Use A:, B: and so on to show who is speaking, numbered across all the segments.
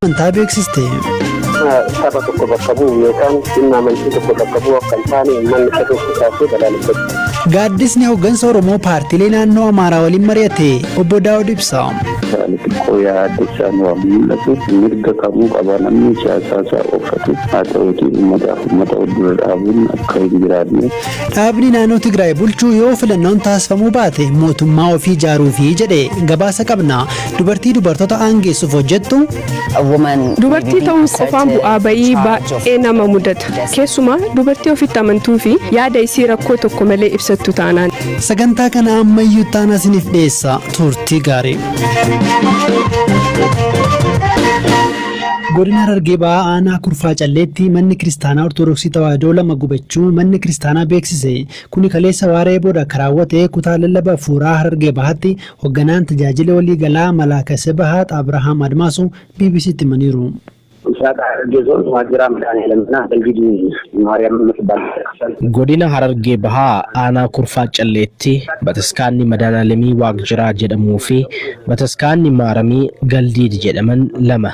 A: amantaa beeksiste. saba
B: tokko bakka bu'u yookaan dhimma amantii tokko bakka bu'u akka hin taane uummanni fedhuu kaasee balaaleffatu. Gaaddisni hooggansa
A: Oromoo paartiilee naannoo Amaaraa waliin mari'ate obbo Daawud Ibsa. Ani xiqqoo
C: yaaddessaa nu waan mul'atu mirga kamuu qaba namni siyaasaa isaa qofatu haa ta'uuti uummataaf uummata wal dura dhaabuun akka hin jiraanne. Dhaabni naannoo
A: Tigraay bulchuu yoo filannoon taasifamuu baate mootummaa ofii ijaaruufi jedhe gabaasa qabna. Dubartii dubartoota aangeessuuf hojjettu.
D: Dubartii ta'uun qofaan bu'aa ba'ii baay'ee nama mudata. Keessumaa dubartii ofitti amantuu fi yaada isii rakkoo tokko malee ibsattu taanaan. Sagantaa kana
A: ammayyuu itti aanaa isiniif dhiyeessa. Turtii gaarii. Godina Harargee Bahaa Aanaa Kurfaa Calleetti manni kiristaanaa Ortodoksii Tawaahidoo lama gubachuu manni kiristaanaa beeksise. Kuni kaleessa waaree booda akka raawwate kutaa lallaba Afuuraa Harargee Bahaatti Hogganaan Tajaajila Walii Galaa Malaaka Sebahaat Abrahaam Admaasuu BBC'tti himaniiru. Misraaq Harargee Zoon Waajjira Midhaanii Laminaa Belgiduu
E: Maariyaam Immatibbaal Bataskaanni. Godina Harargee Bahaa Aanaa Kurfaa Calleetti Bataskaanni Madaanaalemii Waaqjiraa jedhamuu fi Bataskaanni Maaramii Galdiid jedhaman lama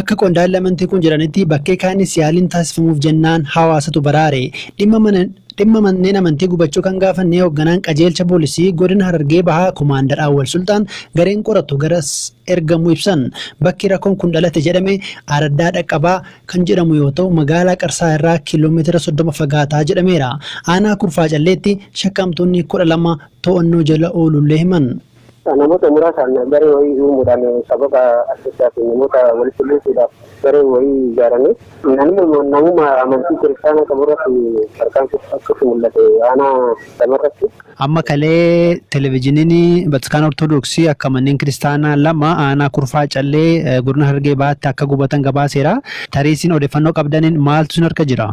A: Akka qondaalli amantii kun jedhanitti bakkee kaaniis yaaliin taasifamuuf jennaan hawaasatu baraare. Dhimma mana Dhimma manneen amantii gubachuu kan gaafannee hogganaan qajeelcha poolisii godina Harargee Bahaa Komaandar Awwal Sulxaan gareen qoratu garas ergamuu ibsan. Bakki rakkoon kun dhalate jedhame Araddaa Dhaqqabaa kan jedhamu yoo ta'u magaalaa Qarsaa irraa kiiloo meetira 30 fagaataa jedhameera. Aanaa Kurfaa Calleetti shakkamtoonni 12 to'annoo jala oolullee himan. Namoota muraasaan
B: garee wayii uumuudhaan sababa adda addaatiin namoota walitti buusuudhaaf gareen wayii ijaarame. Anammoo namuma amantii kiristaanaa qabu irratti tarkaanfii fudhachuutu mul'ate aanaa lama irratti. Amma kalee
A: Televijiniin Bataskaana Ortodoksii akka manneen kiristaanaa lama aanaa Kurfaa Callee godina Harargee Bahaatti akka gubatan gabaaseera. Tarii isin odeffannoo qabdaniin maaltu isin harka jira?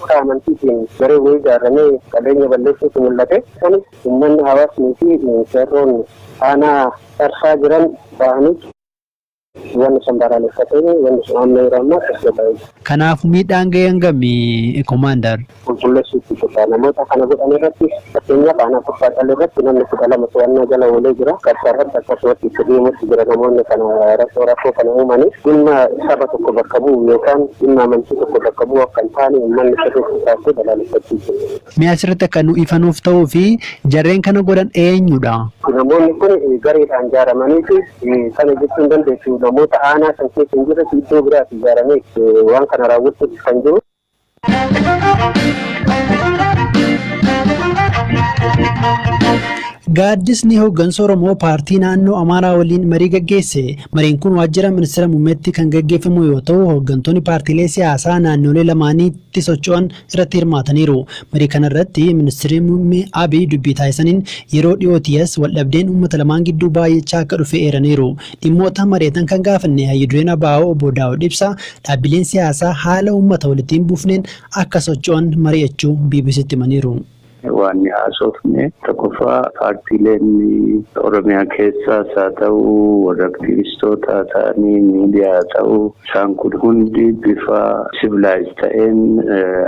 A: Maqaa amantiitiin
B: gareen wayii ijaarramee qabeenya balleessuutu mul'ate. Isaanis uummanni, hawaasnii fi qeerroon aanaa Qarsaa jiran bahanii. Uummanni san balaaleffatee wanni sun amma yeroo ammaa tasgabbaa'ee jira. Kanaafu miidhaan
A: gahe hangami? Komaandar. Qulqulleessuutti jirra.
B: Namoota kana godhan irrattis Fakkeenyaaf aanaa Kuffaa Callee irratti namni 12 to'annaa jala oolee jira. Qarsaa irratti akkasumatti itti deemuutti jira namoonni kana rakkoo rakkoo kana uumaniif. Dhimma saba tokko bakka bu'u yookaan dhimma amantii tokko bakka bu'u akka hin taane uummanni sirriitti kaasee balaaleffachuu qaba. Mee asirratti akka nu
A: ifa nuuf ta'uu fi jarreen kana godhan eenyudha? Namoonni kun
B: gareedhaan ijaaramanii fi kana jechuun dandeessu namoota aanaa san keessa hin jirretu iddoo biraati ijaaramee waan kana raawwachuuf kan jiru.
A: Gaaddisni hooggansa Oromoo paartii naannoo Amaaraa waliin marii gaggeesse. Mariin kun waajjira ministeera muummeetti kan gaggeeffamu yoo ta'u, hooggantoonni paartiilee siyaasaa naannolee lamaaniitti socho'an irratti hirmaataniiru. Marii kana irratti ministeerri muummee Abiy dubbii taasisaniin yeroo dhiyootiis waldhabdeen uummata lamaan gidduu baay'achaa akka dhufe eeraniiru. Dhimmoota mari'atan kan gaafanne Hayyu Dureen abo Obbo Daawud Ibsaa, dhaabbileen siyaasaa haala uummata walitti hin buufneen akka socho'an mari'achuu BBC'tti himaniiru. Waanni
C: haasofne tokkoffaa paartiileen Oromiyaa keessaas haa ta'u, warra aktiivistoota haa ta'anii, miidiyaa haa ta'u, isaan kun hundi bifa civilized ta'een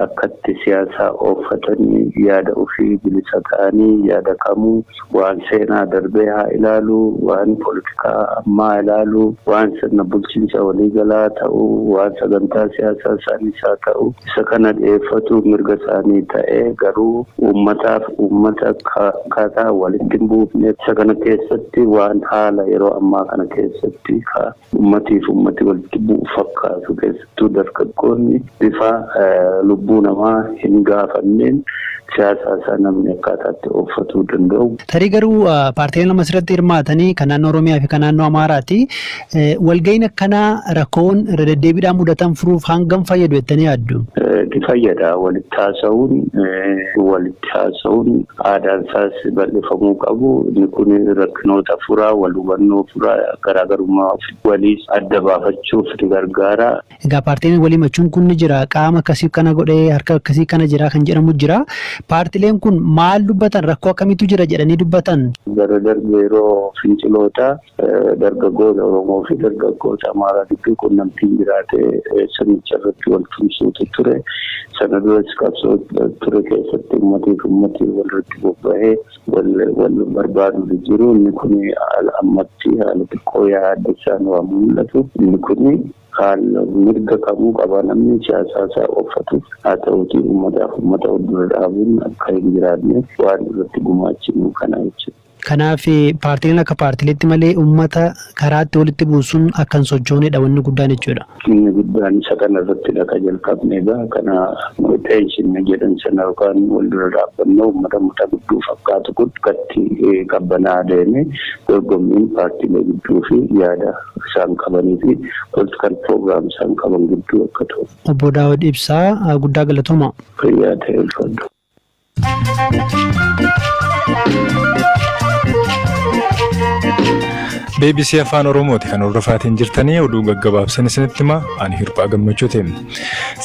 C: akkatti siyaasaa ooffatanii yaada ofii bilisa ta'anii yaada kamuu waan seenaa darbee haa ilaaluu, waan politikaa ammaa haa ilaaluu, waan sirna bulchiinsa waliigalaa ta'uu, waan sagantaa siyaasaa isaaniis haa ta'u isa kana dhiyeeffatuu mirga isaanii ta'ee garuu uummataaf uummata akkaataa walitti hin buufneef isa kana keessatti waan haala yeroo ammaa kana keessatti ka Ummati fi ummati walitti bu'u fakkaatu. Keessattuu dargaggoonni bifa lubbuu namaa hin gaafanneen siyaasaa isaa namni akkaataa itti ooffatuu danda'u. Tarii garuu
A: paartileen amma asirratti hirmaatan kan naannoo Oromiyaa fi kan naannoo Amaaraati. Walga'iin akkanaa rakkoowwan irra deddeebiidhaan mudatan furuuf hangam fayyadu jettanii yaaddu? Ni fayyada.
C: Walitti haasa'uun walitti irratti haasa'uun aadaan isaas bal'ifamuu qabu. Inni kun rakkinoota fura, wal hubannoo fura, garaagarummaa waliis adda baafachuuf ni gargaara. Egaa paartileen wal
A: himachuun kun ni jira. Qaama akkasii kana godhe, harka akkasii kana jira kan jedhamu jira. Paartileen kun maal dubbatan? Rakkoo akkamiitu jira jedhanii dubbatan? Bara darbe
C: yeroo finciloota Dargaggoota Oromoo fi dargaggoota Amaaraa gidduu qunnamtiin jiraatee sirnicha irratti wal tumsuutu ture. Sana duras qabsoo ture keessatti uummatii fi uummatii wal irratti bobba'ee wal barbaaduutu jiru. Inni kun ammatti haala xiqqoo yaaddessaan waan mul'atu. Inni kun haala mirga kamuu qaba namni siyaasaa isaa oofatu. Haa ta'uutii uummataaf uummata wal dura dhaabuun akka hin jiraanne waan irratti gumaachinu kana jechuudha. Kanaaf
A: paartileen akka paartileetti malee ummata karaatti walitti buusuun akka hin sochooneedha wanni guddaan jechuudha. Inni guddaan isa
C: kana irrattidha ka jalqabne egaa kana xeenshinna jedhan sana yookaan wal dura dhaabbannoo ummata muta gidduu fakkaatu kun akkatti qabbanaa'aa deeme dorgommiin paartilee gidduu fi yaada isaan qabanii fi political program isaan qaban gidduu akka ta'u. Obbo Daawud Ibsaa
A: guddaa galatoomaa. Fayyaa ta'e
C: ulfaadhu.
F: bbc afaan oromooti kan hordofaatiin jirtanii oduu gaggabaabsan isinitti hima ani hirphaa gammachuuti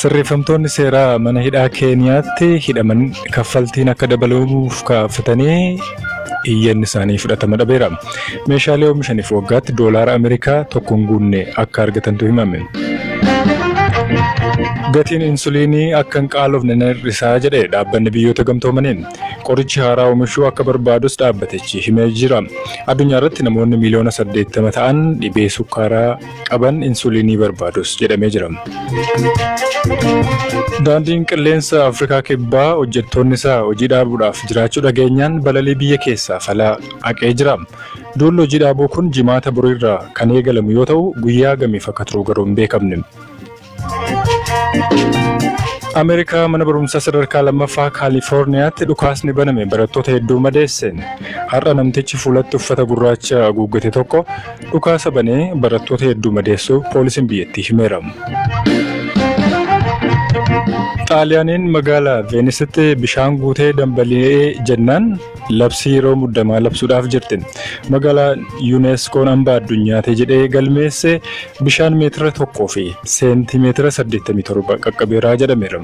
F: sirreeffamtoonni seeraa mana hidhaa keeniyaatti hidhaman kaffaltiin akka dabaluuf kaafatanii iyyanni isaanii fudhatama dhabeera. Meeshaalee oomishaniif waggaatti doolaara Ameerikaa tokko hin guunne akka argatantu himame. Gatiin insuliinii akka hin qaalofne nan hir'isaa jedhe dhaabbanni biyyoota gamtoomaniin. Qorichi haaraa oomishuu akka barbaadus dhaabbatichi himee jira. Addunyaa irratti namoonni miiliyoona 80 ta'an dhibee sukkaaraa qaban insuuliinii barbaadus jedhamee jira. Daandiin qilleensa Afrikaa Kibbaa hojjettoonni isaa hojii dhaabuudhaaf jiraachuu dhageenyaan balalii biyya keessaa falaa haqee jira. Duulli hojii dhaabuu kun jimaata boriirraa kan eegalamu yoo ta'u guyyaa gamiif akka turu garuu hin beekamne. Ameerikaa mana barumsaa sadarkaa lammaffaa Kaalifoorniyaatti dhukaasni baname barattoota hedduu madeesse. Har'a namtichi fuulatti uffata gurraacha haguuggate tokko dhukaasa banee barattoota hedduu madeessuu poolisiin biyyattii himeera. Xaaliyaaniin magaalaa Veenisitti bishaan guutee dambali'ee jennaan Labsii yeroo muddamaa labsuudhaaf jirti. Magaalaan UNESCOn hambaa addunyaati jedhee galmeesse bishaan meetira tokkoo fi seentii meetira saddeettamii torba qaqqabeera jedhameera.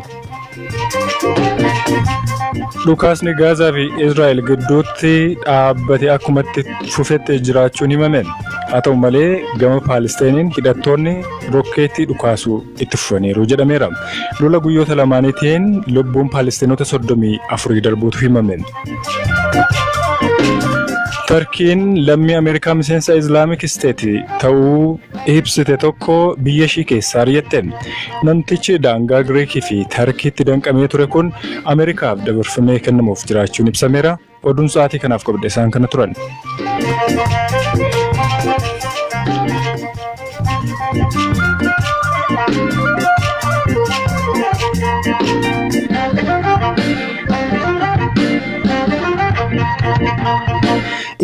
F: Dhukaasni Gaazaa fi Israa'el gidduutti dhaabbate akkumatti fufetti jiraachuun himame. Haa ta'u malee gama Paalisteeniin hidhattoonni rokkeettii dhukaasuu itti fufaniiru jedhameera. Lola guyyoota lamaaniitiin lubbuun Paalestinoota 34 darbuutu himame. Tarkiin lammii Ameerikaa miseensa Islaamik Isteet ta'uu ibsite tokko biyya ishii keessaa ari'atte. Namtichi daangaa Giriikii fi Tarkiitti danqamee ture kun Ameerikaaf dabarfamee kennamuuf jiraachuun ibsameera. Oduun sa'aatii kanaaf qabadhe isaan kana turan.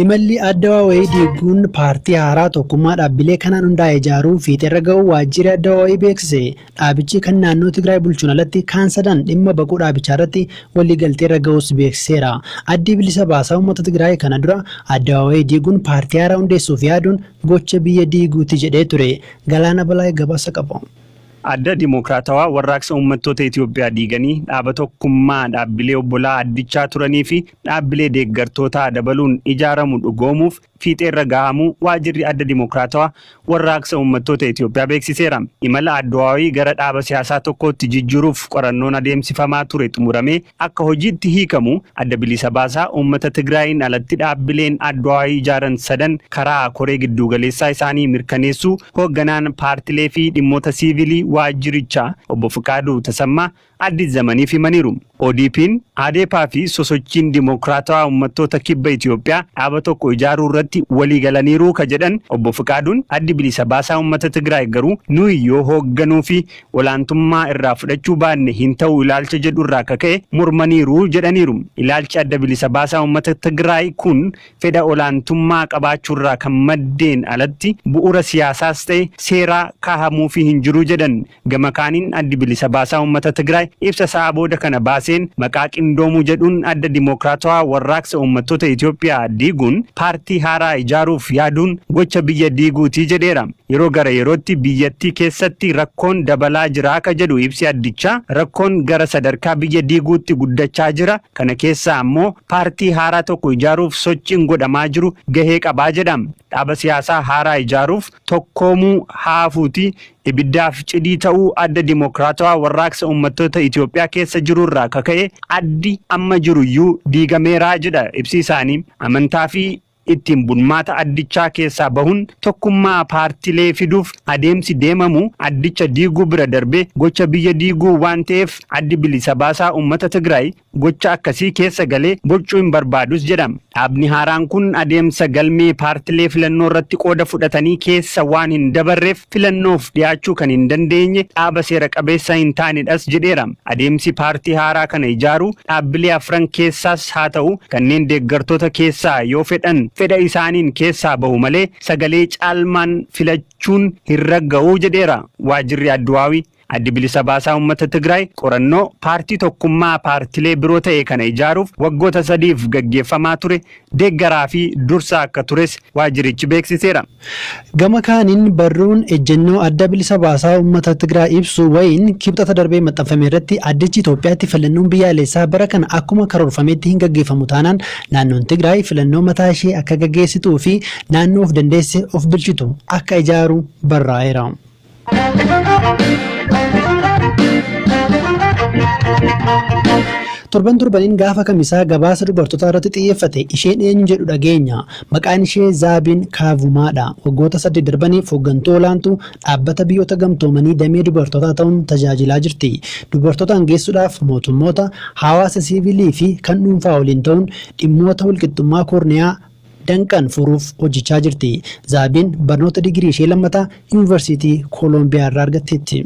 A: Imalli addawaa wayii diiguun paartii haaraa tokkummaa dhaabbilee kanaan hundaa'e ijaaruu fiixeerra ga'uu waajjirri addawaa wayii beeksise. Dhaabichi kan naannoo Tigraay bulchuun alatti kaan sadan dhimma baquu dhaabichaarratti waliigalteerra ga'uus beeksiseera. Addi Bilisa Baasaa Uummata Tigraay kana dura Addawaawayii diiguun paartii haaraa hundeessuuf yaaduun gocha biyya diiguuti jedhee ture. Galaana Balaay gabaasa qaba. Adda
G: Dimookiraatawaa Warraaqsa Uummattoota Itoophiyaa diiganii dhaaba tokkummaa dhaabbilee obbolaa addichaa turaniifi dhaabbilee deeggartootaa dabaluun ijaaramu dhugoomuuf fiixeerra gahamuu Waajirri Adda Dimokiraatawaa Warraaqsa Uummattoota Itoophiyaa beeksiseera. Imala Adwaawi gara dhaaba siyaasaa tokkootti jijjiiruuf qorannoon adeemsifamaa ture xumuramee akka hojiitti hiikamu Adda Bilisa Baasaa Uummata Tigraayiin alatti dhaabbileen Adwaawi ijaaran sadan karaa koree gidduugaleessaa isaanii mirkaneessuu hoogganaan paartilee fi dhimmoota siivilii waajjirichaa Obbo Fiqaaduu Tasammaa Addis Zamaniif himaniiru. ODPn, Adepa fi Sosochiin Dimookiraatawaa Ummattoota Kibba Itiyoophiyaa dhaaba tokko ijaaruu irratti walii galaniiru ka jedhan Obbo Fiqaaduun, Addi Bilisa Baasaa Ummata Tigraay garuu nuyi yoo hoogganuu fi olaantummaa irraa fudhachuu baanne hin ta'u ilaalcha jedhu irraa ka ka'e mormaniiru jedhaniiru. Ilaalchi Adda Bilisa Baasaa Ummata Tigraay kun fedha olaantummaa qabaachuurraa kan maddeen alatti bu'uura siyaasaas ta'e seeraa kaahamuufii hin jiru jedhan. Gama kaaniin Addi Bilisa Baasaa Uummata Tigraay ibsa sa'aa booda kana baaseen maqaa qindoomuu jedhuun Adda Dimookiraatawaa Warraaqsa Uummattoota Itoophiyaa diiguun paartii haaraa ijaaruuf yaaduun gocha biyya diiguuti jedheera. Yeroo gara yerootti biyyattii keessatti rakkoon dabalaa jira ka jedhu ibsi addichaa, rakkoon gara sadarkaa biyya diiguutti guddachaa jira, kana keessaa ammoo, Paartii haaraa tokko ijaaruuf sochiin godhamaa jiru gahee qabaa jedha. Dhaaba siyaasaa haaraa ijaaruuf tokkoomuu haafuuti ibiddaaf cidii ta'uu Adda Dimokraatawaa Warraaqsa Uummattoota Itoophiyaa keessa jirurraa kaka'e addi amma jiruyyuu diigameeraa jedha ibsi isaanii. Amantaafi ittiin bulmaata addichaa keessaa bahuun tokkummaa paartilee fiduuf adeemsi deemamu addicha diiguu bira darbee gocha biyya diiguu waan ta'eef Addi Bilisa Baasaa Uummata Tigraay gocha akkasii keessa galee boccuu hin barbaadus jedha. Dhaabni haaraan kun adeemsa galmee paartilee filannoorratti qooda fudhatanii keessa waan hin dabarreef filannoof dhiyaachuu kan hin dandeenye dhaaba seera qabeessa hin taanedhas jedheera. Adeemsi paartii haaraa kana ijaaruu dhaabbilee afran keessaas haa ta'u kanneen deeggartoota keessaa yoo fedhan fedha isaaniin keessaa bahu malee sagalee caalmaan filachuun hin ragga'u jedheera waajirri Adduwaawii. Addi Bilisa Baasaa Uummata Tigraay qorannoo paartii tokkummaa paartilee biroo ta'e kana ijaaruuf waggoota sadiif gaggeeffamaa ture deeggaraa fi dursaa akka tures waajjirichi beeksiseera. Gama
A: kaaniin barruun ejjennoo Adda Bilisa Baasaa Uummata Tigraay ibsu wayiin Kibxata darbe maxxanfame irratti addichi Itoophiyaatti filannoon biyyaalessaa bara kana akkuma karoorfametti hin gaggeeffamu taanaan naannoon Tigraay filannoo mataa ishee akka gaggeessituu fi naannoo of dandeesse of bilchitu akka ijaaru barraa'eera. Torban torbaniin gaafa kamisaa gabaasa dubartootaa irratti xiyyeeffate isheen eenyu jedhu dhageenya. Maqaan ishee Zaabiin Kaavumaadha. Waggoota saddeet darbaniif hooggantuu olaantuu dhaabbata biyyoota gamtoomanii damee dubartootaa ta'uun tajaajilaa jirti. Dubartoota hangeessuudhaaf mootummoota, hawaasa siivilii fi kan dhuunfaa waliin ta'uun dhimmoota walqixxummaa koorniyaa danqan furuuf hojjechaa jirti. Zaabiin barnoota digirii ishee lammataa Yuunvarsiitii Koolombiyaa irraa argatteetti.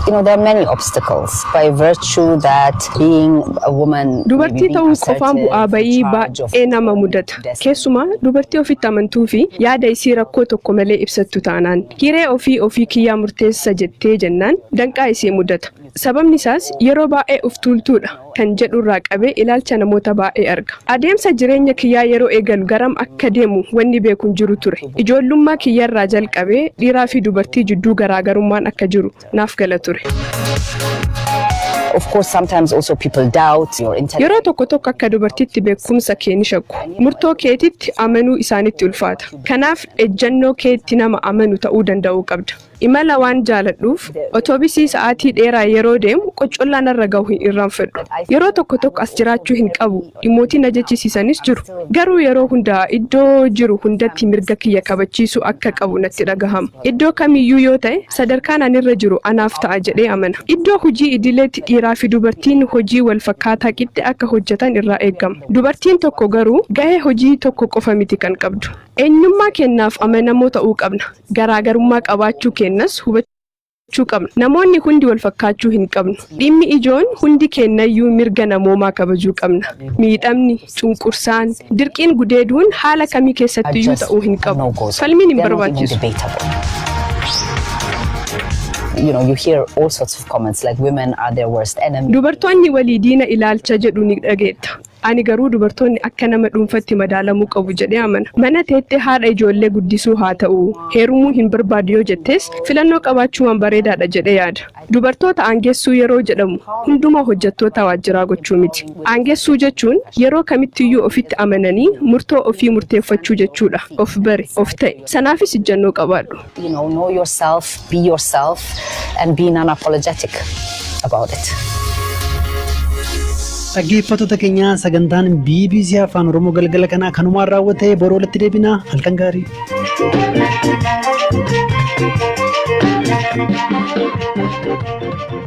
A: You know, there are many
H: obstacles by virtue that being a woman, maybe Dubartii being ta'uu qofaan
D: assertive, bu'aa in ba'ii charge of baay'ee nama one's mudata. destiny. Keessumaa dubartii ofitti amantuu fi yaada isii rakkoo tokko malee ibsattu taanaan hiree ofii ofii kiyyaa murteessa jettee jennaan danqaa isii mudata. Sababni isaas, yeroo baay'ee of tuultuu dha kan jedhu irraa qabee ilaalcha namoota baay'ee arga. Adeemsa jireenya kiyyaa yeroo eegalu garam akka deemu wanni beeku hin jiru ture. Ijoollummaa kiyya irraa jalqabee dhiiraa fi dubartii jidduu garaagarummaan akka jiru naaf gala ture.
H: Yeroo tokko tokko akka
D: dubartiitti beekumsa kee ni shakku. Murtoo keetitti amanuu isaanitti ulfaata. Kanaaf, ejjannoo keetti nama amanu ta'uu danda'uu qabda. Imala waan jaaladhuuf, otobisii sa'aatii dheeraa yeroo deemu qoccollaa narra gahu hin irraanfadhu. Yeroo tokko tokko as jiraachuu hin qabu dhimmootii na jechisiisanis jiru. Garuu yeroo hunda iddoo jiru hundatti mirga kiyya kabachiisuu akka qabu natti dhagahama. Iddoo kamiyyuu yoo ta'e sadarkaan ani irra jiru anaaf ta'a jedhee amana. Iddoo hojii idileetti dhiiraafi dubartiin hojii wal fakkaataa qixxe akka hojjatan irraa eegama. Dubartiin tokko garuu gahee hojii tokko qofa miti kan qabdu. Eenyummaa keennaaf amanamoo ta'uu qabna. Garaagarummaa qabaachuu keennas hubachuu qabna. Namoonni hundi walfakkaachuu hin qabnu. Dhimmi ijoon hundi keennayyuu mirga namoomaa kabajuu qabna. Miidhamni, cunqursaan, dirqiin gudeeduun haala kamii keessattiyyuu ta'uu hin qabu. Falmiin hin barbaachisu.
H: Dubartoonni
D: walii
H: diina ilaalcha jedhu
D: ni dhageetta.
H: Ani
D: garuu dubartoonni akka nama dhuunfatti madaalamuu qabu jedhee amana. Mana teettee haadha ijoollee guddisuu haa ta'u, heerumuu hin barbaadu yoo jettes, filannoo qabaachuu waan bareedaadha jedhee yaada. Dubartoota aangessuu yeroo jedhamu hundumaa hojjattoota waajjiraa gochuu miti. Aangessuu jechuun yeroo kamittiyyuu ofitti amananii murtoo ofii murteeffachuu jechuudha. Of bari, of ta'i. Sanaafis ijjannoo qabaadhu. You know, know yourself,
H: be yourself, and be non-apologetic about it.
A: Dhaggeeffattoota keenya sagantaan BBC Afaan Oromoo galgala kanaa kanumaan raawwatee boru walitti deebina halkan gaarii. Thank you.